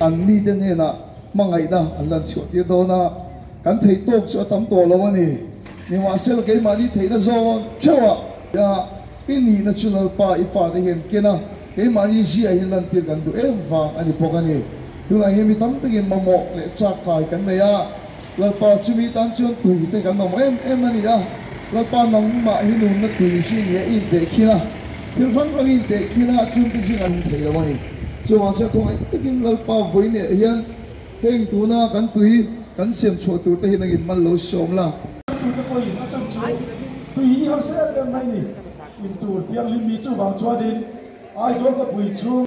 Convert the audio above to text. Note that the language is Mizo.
An mite hnenah hmangaihna an lan chhuahtir dawn a, kan theih tawk chu a tam tawh lo a ni. Nimahsela keimahni theihna zawn theuhah hian i nihna chu Lalpa i fate hian ken a, keimahni ziah hi lantir kan duh em vang a ni bawk a ni. Tunah hian mi tam takin mamawh leh chak kai kan nei a, Lalpa chumi tan chuan tui te kan awm em em a ni a, Lalpa nangmah hi nunna tui chi ni a in teh khin a, thil hrang hrang in teh khin a, chun te zing an awm thei lo a ni. Chuvang chuan kawng êng takin Lalpa vawi nêh hian hêng tuna kan tui kan siam chhuah tur te hi nangin mal lo si awm la. Tui te pawh in a chhan chu tui hi a hre em em mai ni. In tur pianghlim mi chuvang chuan in Aizawl khawpui chhung.